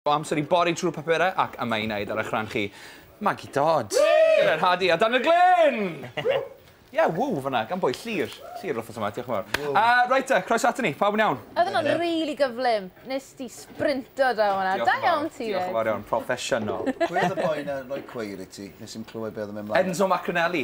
O amser i bori trwy'r papurau ac yma i wneud ar eich rhan chi, Maggie Dodd! Gyda'r Hadi a Dan y Glyn! Ie, ww fanna, gan bwy? Llyr. Llyr yr wythnos yma, diolch yn fawr. Yy, reit te, croeso aton ni, pawb yn iawn? Oedd hwnna'n rili gyflym, wnes di sbrinto draw fanna, da iawn ti 'fyd! Diolch yn fawr iawn, proffesiynol. Pwy oedd y boi 'na yn rhoi cweir i ti? Nes i'm clywed be oedd yn mynd mlaen. Enzo Macronelli.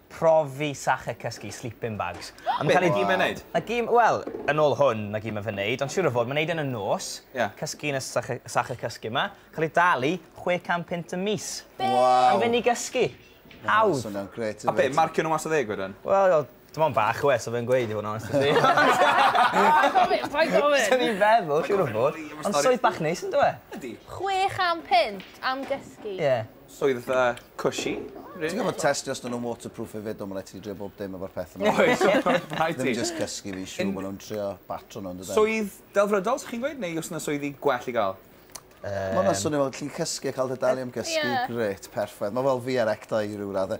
Profi Sache Cysgu Sleeping Bags. A ma'n cael ei... Be 'di mae'n neud? Mae gêm, wel, yn ôl hwn, mae gêm yn fy neud, ond siŵr o fod, mae'n neud e yn y nos, cysgu yn y sache, sache cysgu 'ma, cael ei dalu chwe can punt y mis. Be? Waw! Am fynd i gysgu. Hawdd. Mae hwnna'n grêt hefyd. A be, marcio nhw mas o ddeg wedyn? Wel, o, dim ond bach o e, so fe'n gweud i fod yn onest 'da ti. Paid gofyn, paid gofyn! Swn i'n feddwl, siŵr o fod. Ond swydd bach neis, yndyw e? Ydi. Chwe chan punt am gysgu? Ie. Swyddfa cushy rili. Ti'n gorfod testio os 'dyn nhw'n waterproof hefyd do, ma' raid i ti drio bob dim efo'r petha 'ma. Oes rhaid ti. Ddim jyst cysgu fi'n siŵr ma' nhw'n trio batro nhw yndyden? Swydd delfrydol 'sych chi'n gweud neu o's 'na swyddi gwell i ga'l? Yym. Ma' wnna'n swnio fel ti'n cysgu a ca'l dy dalu am gysgu. Ie. Grêt, perffaith. Ma' fel fi ar ecto i ryw radde.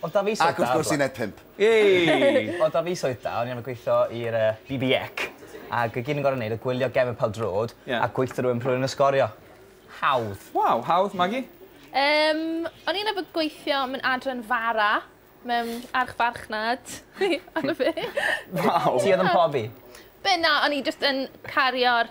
Oedd 'da fi swydd da... Ac wrth gwrs uned pump. Yay! Oedd 'da fi swydd da, o'n i arfer gweithio i'r yy BBEC ag o' gyd o'n gor'o' neud oedd gwylio Gemau Pêl-drod... Ie. ...a gweitho rhywun pry' o'n nw'n sgorio. Hawdd. Waw, hawdd. Magi? Yym, o'n i'n arfer gweithio mewn adran fara mewn archfarchnad. Waw! Ti oedd yn pobi? Be' na, o'n i jyst yn cario'r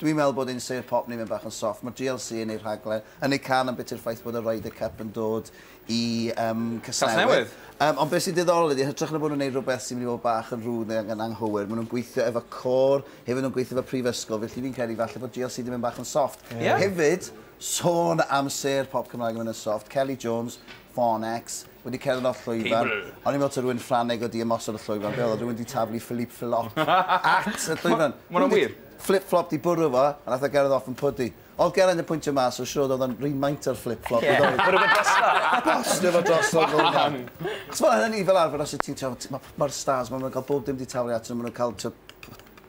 Dwi'n meddwl bod ein Sêr Pop ni'n mynd bach yn soft. Mae GLC yn eu rhaglen, yn eu can am biti'r ffaith bod y Ryder Cup yn dod i um, Casnewydd. Casnewydd. Um, ond beth sy'n diddorol ydy, hytrach na bod nhw'n gwneud rhywbeth sy'n mynd i fod bach yn rhwyd neu yn anghywir, maen nhw'n gweithio efo cor, hefyd nhw'n gweithio efo prifysgol, felly fi'n credu falle bod GLC di mynd bach yn soft. Yeah. Hefyd, sôn am Sêr Pop Cymraeg yn mynd yn soft, Kelly Jones, Fonex, wedi cerdded o'r llwyfan. O'n i'n meddwl ta rhywun Ffraneg wedi ymosod y llwyfan. Be oedd o? Rhywun wedi taflu Philippe Filot at y llwyfan. Ma hwnna'n wir? Flip-flop di bwrw fo, a nath o gerdded off yn pwdu. Oedd Geraint yn pwyntio mas, so siŵr oedd o'n rhy maint o'r flip-flop i ddod. Bwrw fo drosto? Bostio fo drosto fel arfer. Chos fel hynny fel arfer os ti'n t'wod, ma'r stars ma, ma' nhw'n cael bob dim di taflu atyn nhw, ma' nhw'n cael t'wod,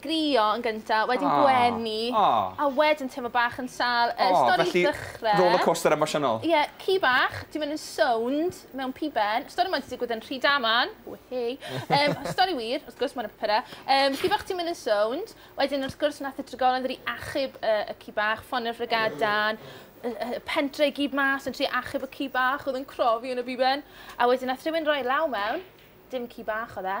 Crio yn gynta, wedyn gwenu, a wedyn teimlo bach yn sâl. Y stori yn dechrau... Felly, rollercoaster emosiynol. Ie, ci bach, ti'n mynd yn sownd mewn piben. Stori 'ma 'di digwydd yn Rhydaman. Whee! Stori wir, wrth gwrs, mae 'na papurau. Ci bach, ti'n mynd yn sownd. Wedyn, wrth gwrs, wnaeth y drigolyn ddod i achub y ci bach, ffonio'r frygadau, y pentre i gyd mas yn trio achub y ci bach oedd yn crofi yn y piben. A wedyn, wnaeth rhywun roi law mewn, dim ci bach oedd e,